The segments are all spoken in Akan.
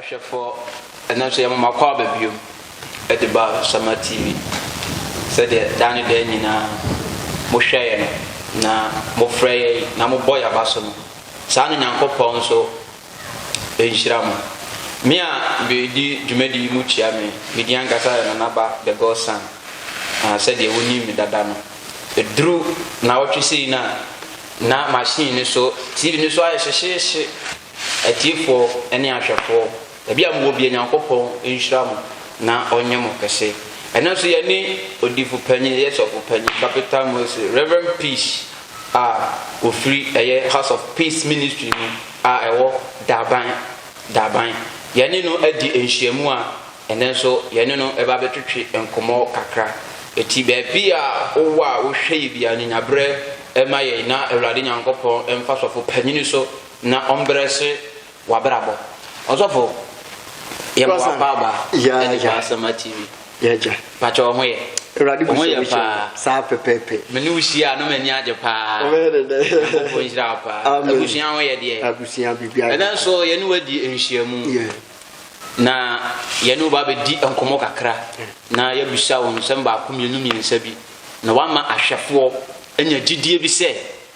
ahwɛfoɔ ɛno nso yɛmoma kɔ aba bio de ba sama tv sɛdeɛ daa ne daa nyinaa mohwɛ yɛ no na mofrɛ yɛ na mobɔ yɛ aba so no saa no nyankopɔn nso nhyira mo. Me a meredi dwumadi yi mu kyia me, me din ankasa yɛ Nana Ba The God Son a sɛdeɛ wonim me dada no. Ɛduru nnawɔtwe sei no a, na machine no so, TV no so ayɛ hyehyeehye. Atiefoɔ ne ahwɛfoɔ, baabi a mowɔ biara Nyankopɔn nhyira mo na ɔnyɛ mo kɛse. Ɛnnɛ nso yɛne Odiyifopanyin, yɛyɛ Sɔfopanyin, Bapeta Mose, Rev. Peace, a wɔfiri ɛyɛ House of Peace Ministry mu a ɛwɔ Daban, Daban. Yɛne no adi nhyiamu a ɛnnɛ nso yɛne no bɛba abɛtwetwe nkɔmmɔ kakra. Enti baabi a wowɔ a wohwɛ yɛ biara no, nya berɛ ma yɛn na Awurade Nyankopɔn mfa Sɔfo Panyini so na ɔmbrɛ se W'abrabɔ. Ɔsɔfo yɛ boapa aba ɛne pa asɛma TV. Yɛgya. Pakyɛ ɔho yɛ. Awurade bu sɛ wohyɛ saa pɛpɛpɛ. Me ne wo hyia a na m'ani agye paa. Ɔbɛyɛ dɛ dɛ. Nyankopɔn nhyira wo paa. Amen. Abusua ho yɛ deɛ. Abusua biribiara. Ɛnɛ nso yɛne wadi nhyiamu. Yeah. Na yɛne wo ba bɛdi nkɔmmɔ kakra. Na yɛabisa wo nsɛm baako mmienu mmiɛnsa bi. Na wama ahwɛfoɔ anya gyidie bi sɛ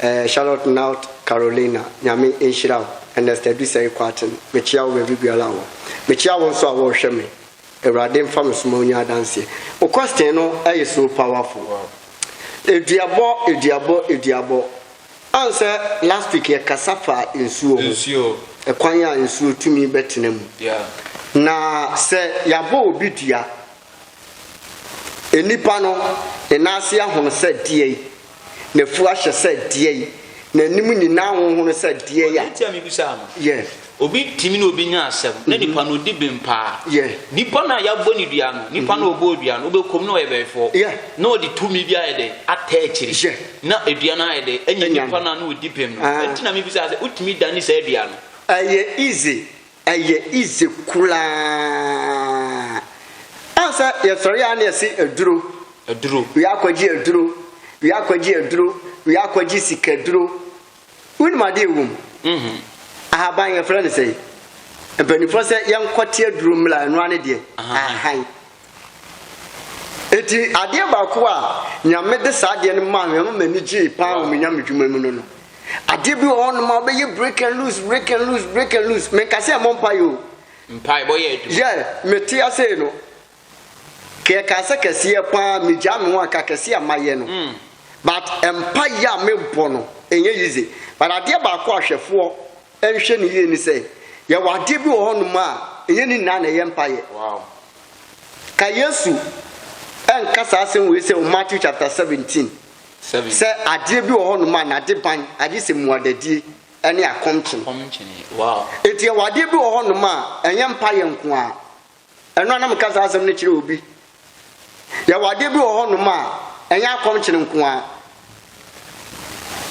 Ɛɛ Charlotte North Carolina Nyame nhyira wo Ernest Adusɛe Kwarteng mekyea wo baabi biara a wɔ mekyea wo nso a wɔrehwɛ me Awurade mfa me so ma wonya adanseɛ Wo question no ɛyɛ so powerful Aduabɔ aduabɔ aduabɔ Ansɛ last week yɛkasa faa nsuo ho Nsuo Ɛkwan a nsuo tumi bɛtena mu Yeah Na sɛ yɛabɔ obi dua Nnipa no, ne nan ase ahono sɛ deɛi? N'afu ahyɛ sɛ deɛi? N'anim nyinaa ahonhono sɛ deɛi a? Ɔde nti a mebisaa no. Yeah. Obi tumi ne obi nya asɛm, na nipa no odi bem paa. Yeah. Nipa no a yɛabɔ no dua no, nipa no a ɔbɔɔ dua no, ɔbɛkɔ mu na ɔyɛ bɛɛfoɔ. Yeah. Na ɔde tumi bi ayɛ dɛ atɛ akyiri. Yeah. Na dua no ayɛ dɛ anya nipa no a na ɔdi bem no. Ah. Ɛnti na mebisaa sɛ, wotumi dane saa dua no? Ɛyɛ easy Ɛyɛ easy koraa. Ansa yɛsɔre a na yɛse aduro. Aduro. Wia akɔgye aduro. Wia akɔgye aduro. Wia akɔgye sikaduro. Wonim ade a ɛwɔ mu? Mhm. Ahaban yɛfrɛ no sɛn? Mpanimfoɔ sɛ yɛnkɔte aduro mmra, ɛno ara ne deɛ? Ahahan. Enti adeɛ baako a Nyame de saa adeɛ no maa me, ɛma m'ani gyee paa wɔ me Nyame dwuma mu no no, adeɛ bi wɔ hɔ nom a wobɛyɛ break and loose, break and loose, break and loose. Menka sɛ ɛmmɔ mpaeɛ o. Mpaebɔ yɛ adwuma. Yɛ, mete asei no, ka yɛkaa sɛ kɛseɛ paa megyaa me ho a, ka kɛseɛ a mayɛ no. Mm. But mpaeɛ a mebɔ no, ɛnyɛ easy. But adeɛ baako a hwɛfoɔ nhwɛ no yie ne sɛ, yɛwɔ adeɛ bi wɔ hɔnom a ɛnyɛ ne nyinaa na ɛyɛ mpaeɛ. Ka Yesu nka saa asɛm wei sɛ wɔ Matthew chapter 17 sɛ adeɛ bi wɔ hɔnom a n'ade ban agye sɛ mmuadadie ne akɔmkyene. Enti yɛwɔ adeɛ bi wɔ hɔnom a ɛnyɛ mpaeɛ nko ara. Ɛno a na meka saa asɛm no kyerɛ obi. Yɛwɔ adeɛ bi wɔ hɔnom a, ɛnyɛ akɔmkyene nko ara.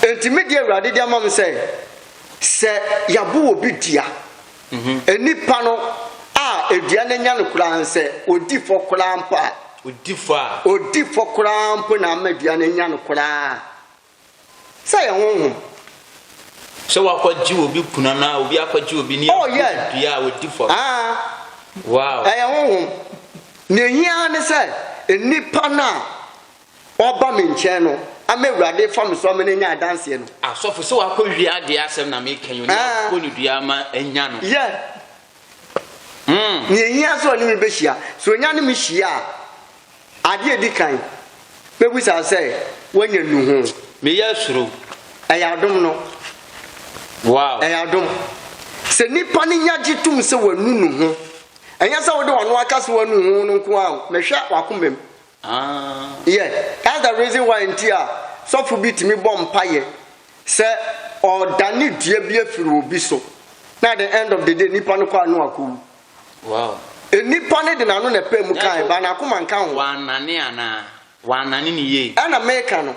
Enti me deɛ Awurade de ama me sɛ, sɛ yɛabo obi dua, mhm. nipa no a edua no anya no koraa nsɛ, odi fɔ koraa mpo a, odi fɔ a, odi fɔ koraa mpo na ama dua no anya no koraa. Sɛ yɛn honhom. Sɛ wakɔgye obi kunu anaa obi akɔgye obi ne oh, yes. dua a ɔdi fam. Ah. Wow. Ɛyɛ honhom. Nea ehia ne sɛ nnipa no a ɔba me nkyɛn no ama awurade fa me so ama no anya adanseɛ no. Asɔfo sɛ wakɔwie adeɛ asɛm na meka yi, ɔne akɔ ne dua ama anya no. Yeah. Nea ehia sɛ ɔne me behyia. Sɛ onya ne me hyia a, ade a edi kan, mebisa no sɛ, Woanya nnuho? Meyɛ soro. Ɛyɛ adom no. Wow! Ɛyɛ adom. Sɛ nnipa no nya gye tom sɛ wanu nuho, ɛnyɛ sɛ wode w'ano aka sɛ woanu nuho no nko ara o, mehwɛ w'akomam. Aah. Yeah that's the reason why nti a sɔfo bi tumi bɔ mpaeɛ sɛ ɔredane dua bi afiri obi so na at the end of the day nipa no kɔ a no akɔwu. Wow. Nipa no de n'ano na ɛpaa mu kae but n'akoma nka ho. Wannane anaa? Wannane no yie. Ɛna meka no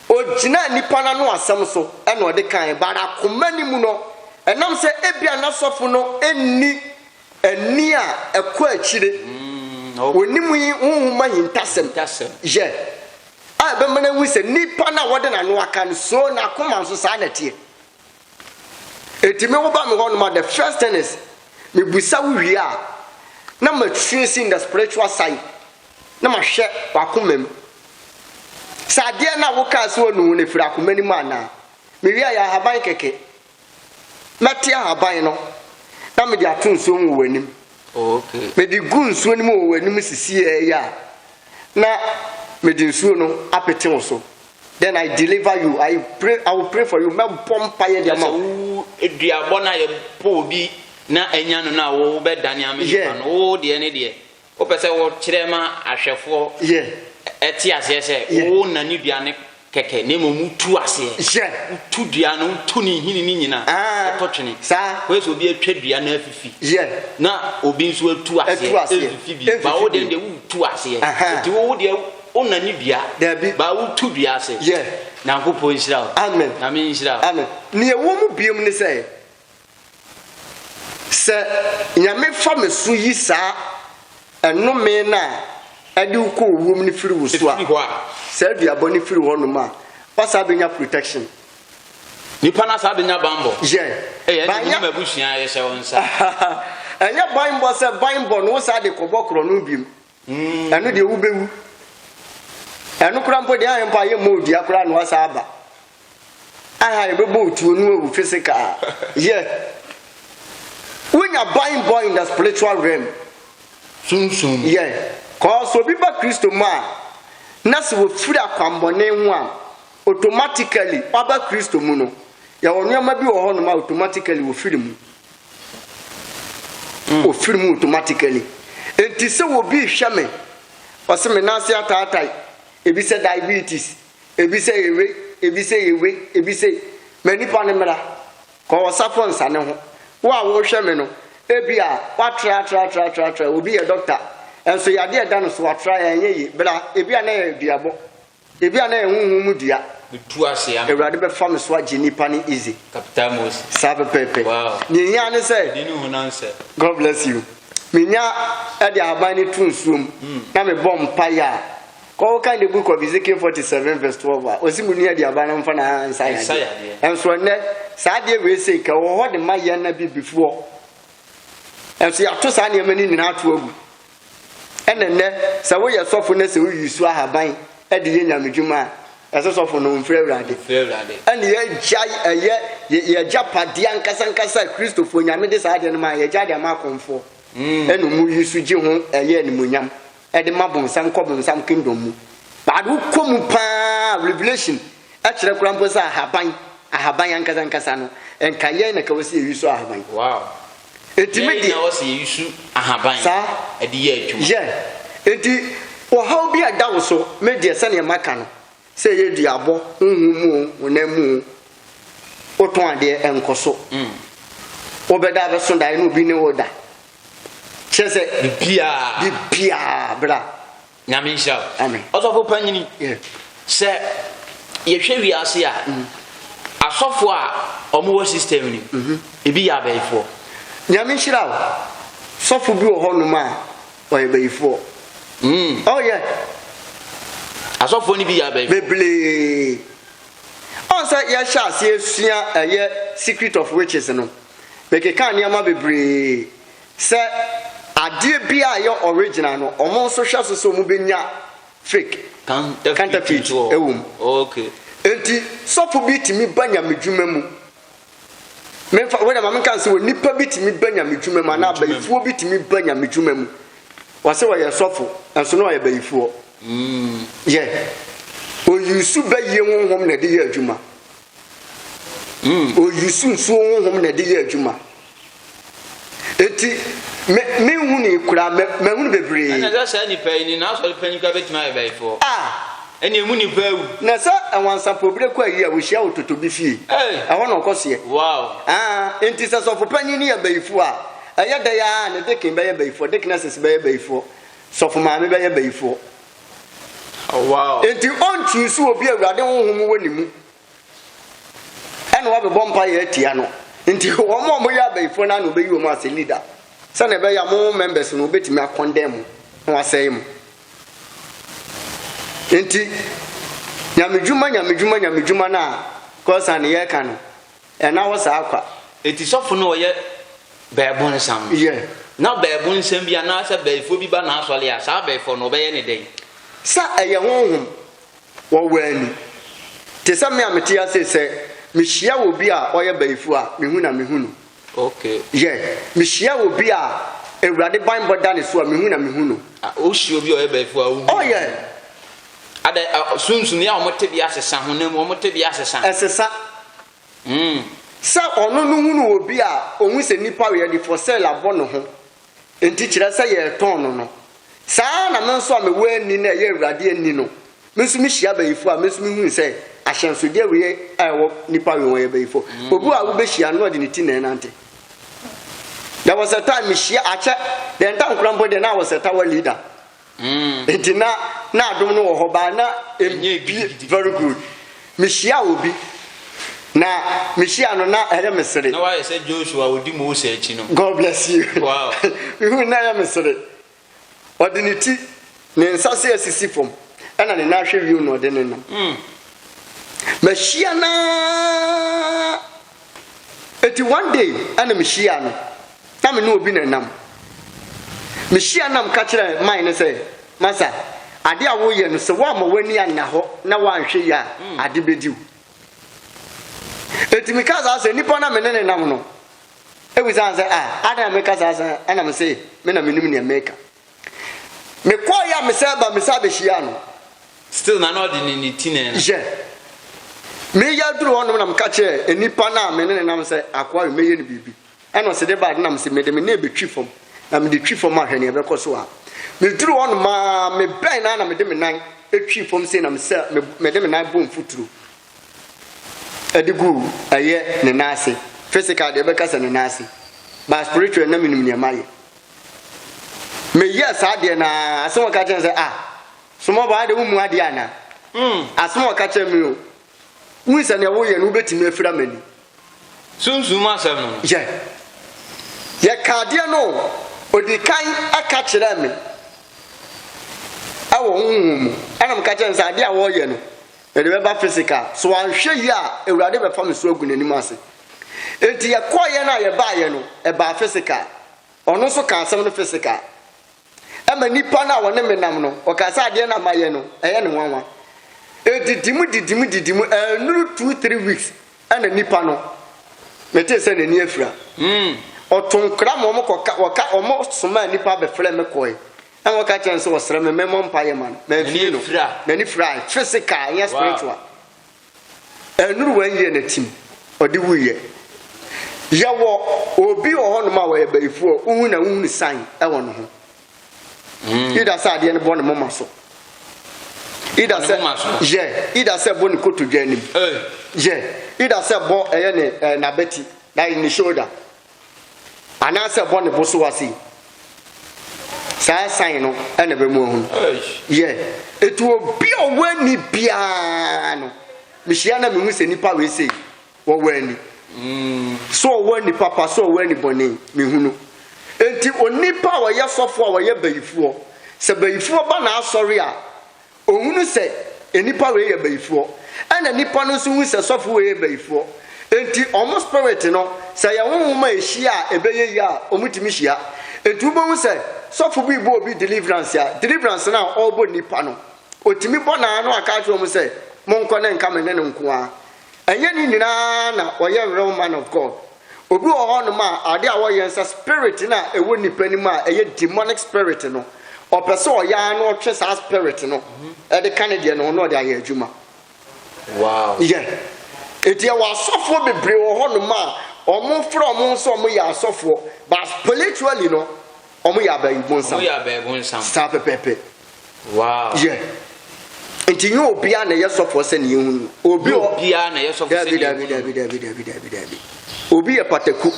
Ogyinaa nnipa no ano asɛm so na ɔde kae, but akoma no mu no, ɛnam sɛ ebia na sɔfo no nni ani a ɛkɔ akyire, onim yi honhom ahintasɛm, yɛ, a ɛbɛma no ahu sɛ nnipa no a wɔde n'ano aka no, so n'akoma nso saa na ɛteɛ. Enti me woba me hɔnom a the first thing is mebisa wo wie a na ma trace in the spiritual side na ma hwɛ wakoma mu. Sɛ adeɛ no a wokaa sɛ wanu ho no firi akoma no mu anaa. Mewie a yɛ ahaban kɛkɛ. Mɛte ahaban no na mede ato nsuo mu wɔ w'anim. Oh, okay. Mede gu nsuo no mu wɔ w'anim sisi ɛyɛ a na mede nsuo no apete wo so. Then I deliver you, I pray, I will pray for you. Mɛbɔ mpaeɛ de ama wo. Wo duabɔ no a yɛbɔ obi na anya no no a wobɛdane ama nipa no, wo deɛ ne deɛ wopɛ sɛ wokyerɛ ma ahwɛfoɔ ɛte aseɛ sɛ wo na ne dua no kɛkɛ na mmom wotu aseɛ wotu dua no wotu ne nhini no nyina wotɔ twene wei sɛ obi atwa dua no afifi na obi nso atu aseɛ ɛmfifi bi ba wo deɛ deɛ wotu aseɛ nti wo deɛ Wo na ne dua. Dabi. Ba wo tu dua ase. Yɛ. Nyankopɔn nhyira wo. Amen. Nyame nhyira wo. Amen. Nea ɛwɔ mu biom ne sɛ, sɛ Nyame fa me so yi saa ɛnome no a ɛde wo kɔ owuo mu no firi wo so a, Ɛfiri hɔ a. saa dua bɔne firi hɔ nom a, woasan bɛnya protection. Nipa no asan bɛnya banbɔ. Yɛ. Ɛyɛ ɛde Banyɛ- menim abusua a yɛhyɛ wo nsa. Ɛnyɛ banbɔ sɛ banbɔ no wosan de kɔbɔ korɔ no biom. Ɛno deɛ wobɛwu. Ɛno koraa mpo deɛ ahe mpo a yɛmmɔ wo dua koraa na woasa aba. Ahe a yɛbɛbɔ wo tuo na woawu physical. Yeah. Wonya ban bɔ in the spiritual realm. Sunsum mu. Yeah. Cause obi ba Kristo mu a, na sɛ wɔfiri akwammɔne ho a, automatically ɔba Kristo mu no, yɛwɔ nneɛma bi wɔ hɔnom a automatically wɔfiri mu. Ofiri mu automatically. Enti sɛ obi rehwɛ me, ɔse me nan ase ataatae, ebi sɛ diabetes, ebi sɛ yɛ wei, ebi sɛ yɛ wei, ebi sɛ Ma nipa no mmra. Kɔ ɔsafo nsane ho. Wo a worehwɛ me no, ebia woatra atra atra atra atra, obi yɛ doctor, nso yadeɛ a ɛda no so atra, ɛnyɛ yie. Bra, ebia na ɛyɛ duabɔ. Ebia na ɛyɛ honhom mu dua. Metu ase ampa. Awurade bɛfa me so agye nnipa ne Ize. Kapita Mose. Saa pɛpɛɛpɛ. Wow. Nea ehia ne sɛ. Ɛde ne ho na nsɛ. God bless you. Menya ɛde ahaban no tu nsuo mu na mebɔ mpaeɛ a, kɔ wokan in the book of Ezekiel 47 verse 12 a, ɔsi mu ni ɛde ahaban no mfa na nsa yɛ adeɛ. Ɛnso ɛnɛ, saa adeɛ wei sei ka wɔ hɔ de ma yɛn na bibifoɔ. Ɛnso yɛato saa nneɛma no nyinaa ato agu. Ɛna nnɛ sɛ woyɛ sɔfo na sɛ woyi so ahaban de yɛ Nyame dwuma a, ɛsɛ sɔfo no mfrɛ Awurade. Ɛna yɛagyae ɛyɛ yɛagyapadeɛ ankasa ankasa a Kristofoɔ, Nyame de saa adeɛ no mae, yɛagyae de ama akɔmfoɔ. Ɛna ɔmo yi so gye ho ɛyɛ animuonyam de ma bonsam kɔ bonsam kingdom mu. But wokɔ mu paa a Revelation kyerɛ koraa mpo sɛ ahaban, ahaban ankasa ankasa no, nka yɛn na ka wɔ sɛ yɛyi so ahaban. Ɛtumi de. Yɛn na wɔsi yɛyi su ahaban. Saa. De yɛ adwuma. Yɛ. Enti ɔhaw bi a ɛda wo so, me deɛ sɛdeɛ maka no, sɛ ɛyɛ duabɔ, honhom mu oo, honam mu oo, wotɔn adeɛ, ɛnkɔ so. Wobɛda abɛso daeɛ na obi ne wo reda. Kyerɛ sɛ. Biribiara. Biribiara, bra. Nyame nhyira wo. Amen. Ɔsɔfo panyini, Yeah. sɛ yɛhwɛ wiase a, asɔfo a wɔn wɔ system ni, mhm. ebi yɛ abayifoɔ. Nyame nhyira wo. Sɔfo bi wɔ hɔ nom a ɔyɛ bayifoɔ. Mm. Oh yeah, Asɔfoɔ no bi yɛ abayifoɔ. bebree. Ɔn sɛ yɛhyɛ aseɛ sua ɛyɛ secret of witches no, mekeka nneɛma bebree Sɛ adeɛ biaa ɛyɛ original no ɔmo nso hwɛ so sɛ ɔmo bɛnya fake, counterfeit, wɔ mu. Enti sɔfo bi tumi ba nyamedwuma mu, memfa, wei deɛ ma menka no sɛ onipa bi tumi ba nyamedwuma mu anaa bayifoɔ bi tumi ba nyamedwuma mu, ɔse ɔyɛ sɔfo nso na ɔyɛ bayifoɔ. Yɛ, ɔ use bayie honhom na ɛde yɛ adwuma. Ɔ use nsuo honhom na ɛde yɛ adwuma. Enti me menhunii koraa, ma mahunu bebree. Ɛnna sɛ saa nnipa yi ne n'asɔre panyin koraa betumi ayɛ bayifoɔ a, ɛnneɛ emu nnipa awu. Na sɛ nwansapɔw bi rekɔ ayi a, ohyia wɔ totɔ bi fie. Ei! Ɛhɔ na ɔkɔ seɛ. Wow! Aa, enti sɛ sɔfo panyin no yɛ bayifoɔ a, ɛyɛ dɛn ara na deacon bɛyɛ bayifoɔ, deaconesses bɛyɛ bayifoɔ, sɔfo maame bɛyɛ bayifoɔ. Oh, wow! Enti ɔnkyuusu obi a Awurade honhom wɔ ne mu. ɛna wɔbɛbɔ mpa yɛ atia no nti wɔn a wɔyɛ abayifoɔ no ana wɔbɛyi wɔn ase leader sɛnea ɛbɛyɛ mo members no wɔbɛtumi akɔndɛn mu na wɔasɛe mu nti nyamedwuma nyamedwuma nyamedwuma no a kɔsa ne yɛka no ɛna hɔ saa kwa ɛti sɔfo no ɔyɛ bɛɛbo nsam yɛ na bɛɛbo nsɛm bi anaasɛ bɛɛfoɔ bi ba n'asɔre a saa bɛɛfoɔ no ɔbɛyɛ ne dɛn sɛ ɛyɛ honhom Wɔ wura ni. Te sɛ me a mete ha sei sɛ mehyia obi a ɔyɛ bayifoɔ a, mehu na mehu no. Okay. Yɛ, mehyia obi a Awurade banbɔ da ne so a, mehu na mehu no. Ah, wohyia obi a ɔyɛ bayifoɔ a, wohu. Oh yeah. Adɛ, ah, sunsumi a wɔn tebea sesa, honam mu wɔn tebea sesa. Ɛsesa. Mm. Sɛ ɔno no hunu obi a, ohun sɛ nipa yɛ de for sale abɔ ne ho. Enti kyerɛ sɛ yɛretɔn no no. Saa ara na me nso a mewɔ ani na ɛyɛ Awurade ani no, me nso mihyia abayifo a, me nso mihui sɛ ahyɛnsode wee a ɛwɔ nnipa we ho yɛ bayifo. Obi a wubehyia no na ɔde ne ti na ɛrenante. There was a time mihyia, akyɛ, the entire Nkoranbɔ deɛ na I was a tower leader. Nti na na adom no wɔ hɔ baa na ɛnyɛ bi very good mehyia obi na mehyia no na ɛyɛ me sere na wayɛ sɛ Joshua ɔdi Mose akyi no God bless you wow mehu na ɛyɛ me sere ɔde ne ti ne nsa se asisi fam ɛna ne nan ahwɛ wiem na ɔde ne nam mahyia naa Enti one day ɛna me hyiaa no, na me ne obi na ɛnam. Me hyiaa no na me ka kyerɛɛ man no sɛ, Masa, ade a wo yɛ no sɛ woamma w'ani anna hɔ na woanhwɛ yie a ade bɛdi wo. Enti me kaa saa sɛ nipa no a me ne no nam no, ɛbisaa sɛ ah, adɛn na me ka saa sɛ ɛna me se me na me nim nea me reka. Me kɔɔ yɛ a me san ba me san bɛ hyia no. Still na na ɔde ne ne ti na ɛna. Yɛ. Me yɛ duru hɔ nom na me ka kyerɛ nipa na me ne ne nam sɛ akoa yi me yɛ no biribi. Ɛna ɔsi de ba ade na me si me de me nan bɛ twi fam na me de twi fam ahwɛ nea ɛbɛ kɔ so a. Me duru hɔ nom aa me bɛn na na me de me nan twi fam sei na me sɛ me me de me nan bɔ mfuturo ɛde gu ɛyɛ ne nan ase. Physical deɛ ɛbɛ ka sɛ ne nan ase but spiritual na me nim nea ma yɛ. Meyɛɛ saa adeɛ no ara, asɛm a ɔka kyerɛ me sɛ, Ah, Sommɔbɔ, ade wommu adeɛ anaa? Asɛm a ɔka kyerɛ me o, wohu sɛ deɛ woyɛ no wobɛtumi afira m'ani. Sunsum mu asɛm no no. Yɛ. Yɛka adeɛ no o, ɔdi kan ka kyerɛɛ me wɔ honhom mu, ɛna meka kyerɛɛ no sɛ adeɛ a wɔreyɛ no, Mede bɛba physical so anhwɛ yie a awurade bɛfa me so agu n'anim ase Enti yɛkɔeɛ no a yɛbaeɛ no ɛbaa physical Ɔno nso kaa asɛm no physical Ɛma nipa no a ɔne me nam no ɔkaa sɛ adeɛ no a mayɛ no ɛyɛ no nwanwa Ɛdidi mu didi mu didi mu annuru two three weeks ɛna nipa no metee sɛ n'ani afira Ɔto nkra ma wɔkɔ ka wɔka wɔsomaa nipa bɛfrɛɛ me kɔe Ɛna ɔka kyerɛ no sɛ ɔsrɛ me mɛmɔ mpaeɛ ma no. Mamfie no, n'ani firae, physical, ɛnyɛ spiritual. Ɛnuru one year na tim, ɔde wuiɛ. Yɛwɔ obi wɔ hɔnom a ɔyɛ bayifoɔ a wohu na wohunu sign ɛwɔ ne ho. Hmm. Ida sɛ adeɛ no bɔ ne moma so. Ida sɛ yɛ, ida sɛ bɔ ne kotodwe anim. Yɛ, ida sɛ bɔ ɛyɛ ne eh, n'abati, that is ne shoulder. anaasɛ bɔ ne bo so ase. Saa sign no ɛna bɛ mu ahunu. Yɛ, etu obi a ɔwɔ ani biara no, mehyia na mehu sɛ nipa wei sei, wɔwɔ ani. Mm. So ɔwɔ ani papa, so ɔwɔ ani bɔne, mehunu. Enti onipa a ɔyɛ sɔfo a ɔyɛ bayifoɔ, sɛ bayifoɔ ba n'asɔre a, Ɔhunu sɛ nnipa wei yɛ bayifoɔ, ɛna nnipa no nso hu sɛ sɔfo wei yɛ bayifoɔ. Enti wɔn spirit no, sɛ ɛyɛ honhom a ɛhyia a ɛbɛyɛ yie a, wɔtumi hyia. Enti wobɛhu sɛ sɔfo bi rebɔ obi deliverance a, deliverance no a ɔrebɔ nnipa no, ɔtumi bɔ no ara na waka akyerɛ wɔn sɛ, monkɔ na ɛnka me ne no nko ara. Ɛnyɛ ne nyinaa na wɔyɛ real man of God. Obi wɔ hɔnom a ade a ɔyɛ nsɛ spirit no a ɛwɔ nnipa no mu a ɛyɛ demonic spirit no ɔpɛ sɛ ɔyɛ ara na ɔtwe saa spirit no ɛde ka ne deɛ no ho na ɔde ayɛ adwuma. Wow. Yɛ. Eti ɛwɔ asɔfoɔ bebree wɔ hɔnom a wɔn frɛ wɔn sɛ wɔn yɛ asɔfoɔ but spiritually no Wɔn yɛ abɛɛbo nsam. Wɔn yɛ abɛɛbo nsam. Saa pɛpɛɛpɛ. Wow. Yɛ. Nti nye obiara na ɛyɛ sɔfoɔ sɛ ne yɛhu no. Obi wɔ. Obiara na ɛyɛ sɔfoɔ sɛ ne yɛhu no. Dabi dabi dabi dabi dabi. Obi yɛ pataku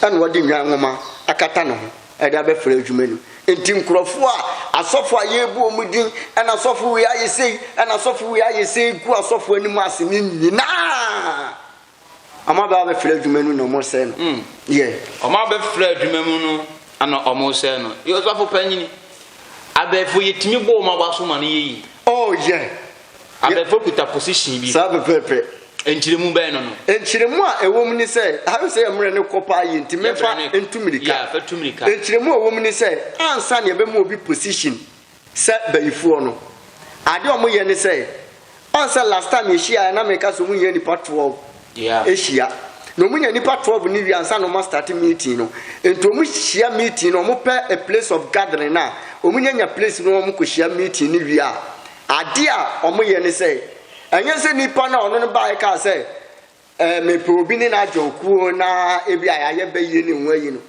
ɛna ɔde nnwan nwoma akata ne ho ɛde abɛfra adwuma no. Nti nkurɔfoɔ a asɔfoɔ a yɛrebu wɔn din ɛna asɔfo wei ayɛ sei ɛna asɔfo wei ayɛ sei gu asɔfoɔ anim ase ne nyinaa. Wɔn a wɔabɛfra adwuma mu na wɔresɛe no. Hmm. Yɛ. Wɔn a wɔbɛfra adwuma mu no na wɔresɛe no. Yɛ ɔsɔfo panyin. Abɛɛfo yɛtumi bɔ wɔn a wɔaso ma no yɛ yi. Oh yɛ. Abɛɛfo kuta position bi. Saa pɛpɛɛpɛ. Nkyerɛmu bɛn no no. Nkyerɛmu a ɛwɔ mu ni sɛ ahwɛ sɛ yɛmmerɛ no kɔ paa yɛ nti mefa ntumirika. Yɛ fa tumirika. Nkyerɛmu a ɛwɔ mu ni sɛ ansa na yɛbɛma obi position. Sɛ bayifoɔ no, adeɛ a wɔyɛ ne sɛ, ɔn sɛ last time yɛhyiaeɛ na meka sɛ wɔnya nnipa 12 Yeah. hyia. Na wɔnya nnipa 12 no wie ansa na wɔastarte meeting no. Nti wɔhyia meeting no, wɔpɛ a place of gathering no a, wɔnyanya place no na wɔkɔhyia meeting no wie a, adeɛ a wɔyɛ ne sɛ, ɛnyɛ sɛ nipa no a ɔno no baeɛ kaa sɛ, eh, mepɛ obi ne no adwoin kuo na ebia yɛayɛ bɛyie ne ho ayi no.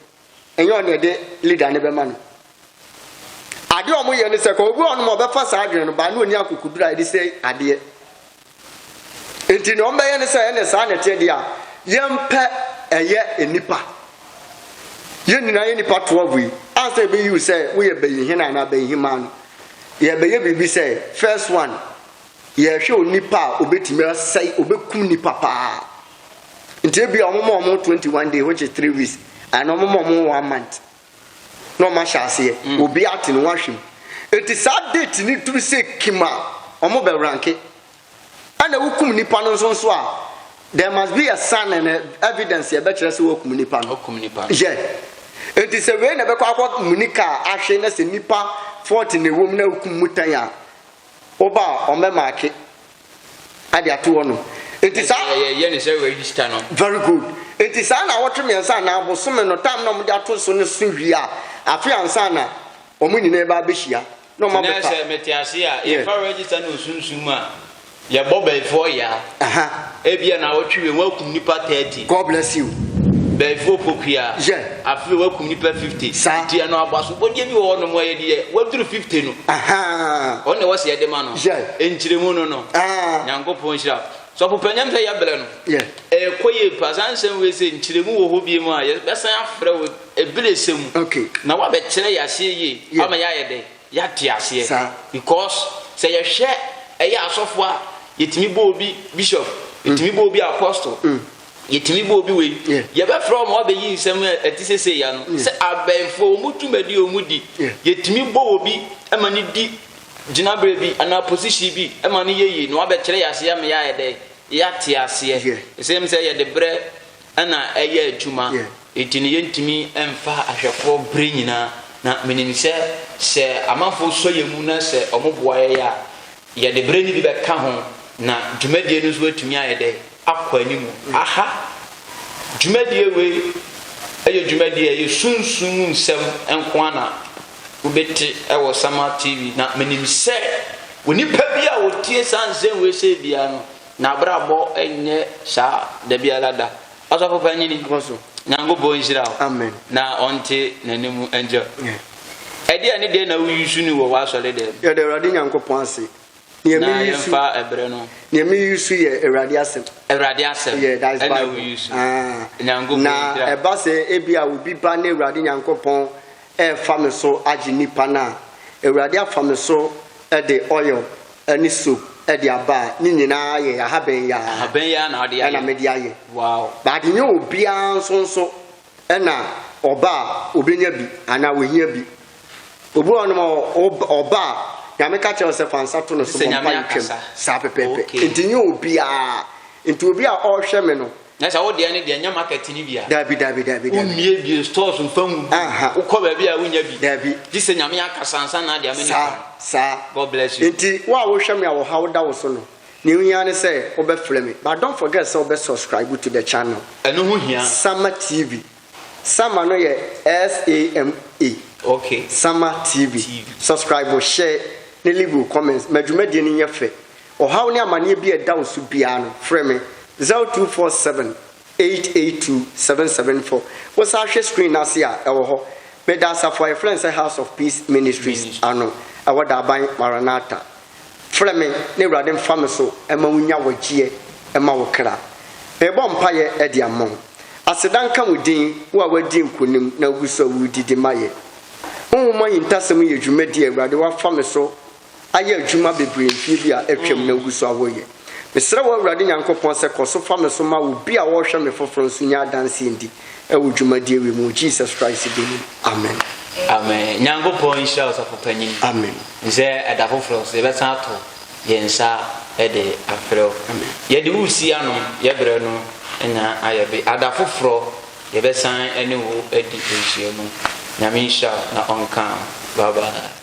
ɛnyɛ ɔne ɛde leader no bɛma no adeɛ ɔmo yɛ ne sɛ kɔ obi ɔnom ɔbɛfa saa adwene no baa ne ɔni akokoduro a ɛde sɛ adeɛ nti ne ɔmo bɛyɛ ne sɛ ɛne saa na ɛteɛ deɛ a yɛmpɛ ɛyɛ nnipa yɛn nyinaa yɛ nnipa toa yi asɛ ɛbɛyi wo sɛ woyɛ bɛyi hena anaa bɛyi hemaa no yɛbɛyɛ biribi sɛ first one yɛhwɛ onipa a obɛtumi asɛe obɛkum nipa paa nti ebia wɔn ma wɔn twenty one day which is three weeks and wɔn ma wɔn one month na wɔn ahyɛ aseɛ mm. obi ate no wɔn ahwɛ mu eti saa date ni duru sɛ kim a wɔn bɛ ranke ɛna wokum nipa no nso nso a there must be a sign and a evidence yɛ bɛkyerɛ sɛ wɔkum nipa no wɔkum nipa no yɛ eti sɛ wei na ɛbɛkɔ akɔ mu ni kaa ahwɛ na sɛ nipa forty na ewom na wokum mu tan a wɔba a wɔn bɛ maake. ade ato hɔ nom. Nti saa. Yɛyɛ ne sɛ register no. Very good. Nti saa na awɔtwe mmiɛnsa anaa abosome no time na wɔde ato so no so wie a, afe ansa na wɔn nyinaa ba abɛhyia na wɔn abɛfa. Sɛ mete ase a, yɛfa register no osunsum a, yɛbɔ bɛyifoɔ yaa. Ebia na awɔtwe wei wɔakum nipa 30. God bless you. Bɛɛfo Opokuya. Yɛ. Afei wakum nipa fifty. Saa. Ti ɛno aboasopɔdeɛ bi wɔ hɔ nom ɔyɛ deɛ waduru fifty no. Ahaa. Ɔno na ɛwɔ sɛ yɛde ma no. Yɛ. Nkyerɛmu no no. Aa. Nyankopɔn nhyira. Sɔfo panyam sɛ yɛbrɛ no. Yɛ. Ɛkɔ yie pa saa nsɛm wei sɛ nkyerɛmu wɔ hɔ bie mu a yɛbɛsan afrɛ wo ɛbere sɛ mu. Okay. Na wabɛkyerɛ yɛ aseɛ yie. Yɛ. Ama yɛayɛ dɛ. Yɛate aseɛ because sɛ yɛhwɛ ɛyɛ asɔfo a yɛtumi bɔ obi bishop yɛtumi bɔ obi apostle yɛtumi bɔ obi wei yɛbɛfrɛ wɔn abɛyi nsɛm a ɛte sɛ sei ano sɛ abɛnfoɔ wɔn dwumadi a wɔn di yɛtumi bɔ obi ma no di gyinaberɛ bi anaa position bi ma no yɛ yie na wabɛkyerɛ yɛ aseɛ ama yɛayɛ dɛ yɛate aseɛ ɛsɛm sɛ yɛde berɛ na ɛyɛ adwuma nti no yɛntumi mfa ahwɛfoɔ berɛ nyinaa na menim sɛ sɛ amanfoɔ sɔ yɛn mu na sɛ wɔn boa yɛn a yɛde berɛ no bi bɛka ho na dwumadie no nso atumi ayɛ dɛ akɔ anim aha dwumadie wei ɛyɛ dwumadie ɛyɛ sunsun mu nsɛm nko ara na wobɛte ɛwɔ Sama TV na menim sɛ onipa bi a wɔtie saa nsɛm wei sɛ biara no N'abrabɔ nyɛ saa da biara da. Ɔsɔfo panyin yi, Nyankopɔn nhyira wo na ɔnte n'anim nkyɛ wo. Ɛdeɛn ne deɛn na wo use no wɔ w'asɔre dɛm? Yɛda Awurade Nyankopɔn ase. Neɛ me use. Na yɛmfa ɛberɛ no. Neɛ me use yɛ Awurade asɛm. Awurade asɛm. Yeah, that is Bible. Ɛna wo use. Nyankopɔn nhyira. Na ɛba sɛ ebi a obi ba ne Awurade Nyankopɔn refa me so agye nnipa no a, Awurade afa me so de oil ne soap de aba a, ne nyinaa yɛ ahaban yi ara Ahaban yi ara na wode ayɛ. ɛna mede ayɛ. Wow. But ɛnyɛ obiara nso nso ɛna ɔba a obenya bi anaa ohia bi. Obi wɔ hɔnom a ɔba ɔba a Nyame ka kyerɛ wo sɛ fa nsa to no Te so sɛ bɔ Nyame mpaeɛ twam. akasa. Saa pɛpɛɛpɛ. Okay. Nti ɛnyɛ obiara. Nti obi a ɔrehwɛ me no, Na sɛ wo deɛ ne deɛ nyɛ market ne bia. Dabi dabi dabi. Wo mmie bie stores nfa nwu. Wo kɔ baabi a wo nya bi. Dabi. Gye sɛ nyame aka sansa na adeɛ ama nipa. Saa saa. God bless you. Nti wo a wo hwɛ me a wɔ ha wo da wo so no ne ho hia ne sɛ wo bɛ frɛ me but don't forget sɛ wo bɛ subscribe to the channel. Ɛno ho hia. Sama TV. Sama no yɛ S A M A. Okay. Sama TV. TV. Subscribe share ne leave wo comments ma dwumadie no nyɛ fɛ Ɔhaw ne amaneɛ bi a ɛda wo so biara no, frɛ me, 0247 882 774. Wo san hwɛ screen no ase a, ɛwɔ hɔ. Meda asafo a yɛfrɛ no sɛ House of Peace Ministries ano, ɛwɔ Daaban, Maranatha. Frɛ me na Awurade mfa me so ma wo nya wɔgyeɛ ma wo kra. Merebɔ mpaeɛ de ama wo. Aseda nka wo din, wo a woadi nkonim na wogu so a woredidi ma yɛn. Honhom ahintasɛm yɛ dwumadie a Awurade woafa me so ayɛ adwuma bebree mfeɛ bi a atwam na wogu so a wɔyɛ. Mesrɛ wo Awurade Nyankopɔn sɛ kɔ so fa me so ma obi a ɔrehwɛ me foforɔ nso nya adanseɛ ndi wɔ dwumadie wei mu wɔ Jesus Christ din mu, amen. Amen. Nyankopɔn nhyira Ɔsɔfo Panyin. Amen. Nsɛ ɛda foforɔ nso yɛbɛsan ato yɛn nsa de afrɛ wo. Amen. Yɛde wo si ano, yɛbrɛ no nya ayɛ be. Ada foforɔ Yɛbɛsan ne wo adi nhyiamu. Nyame nhyira wo na ɔnka wo. Bye bye.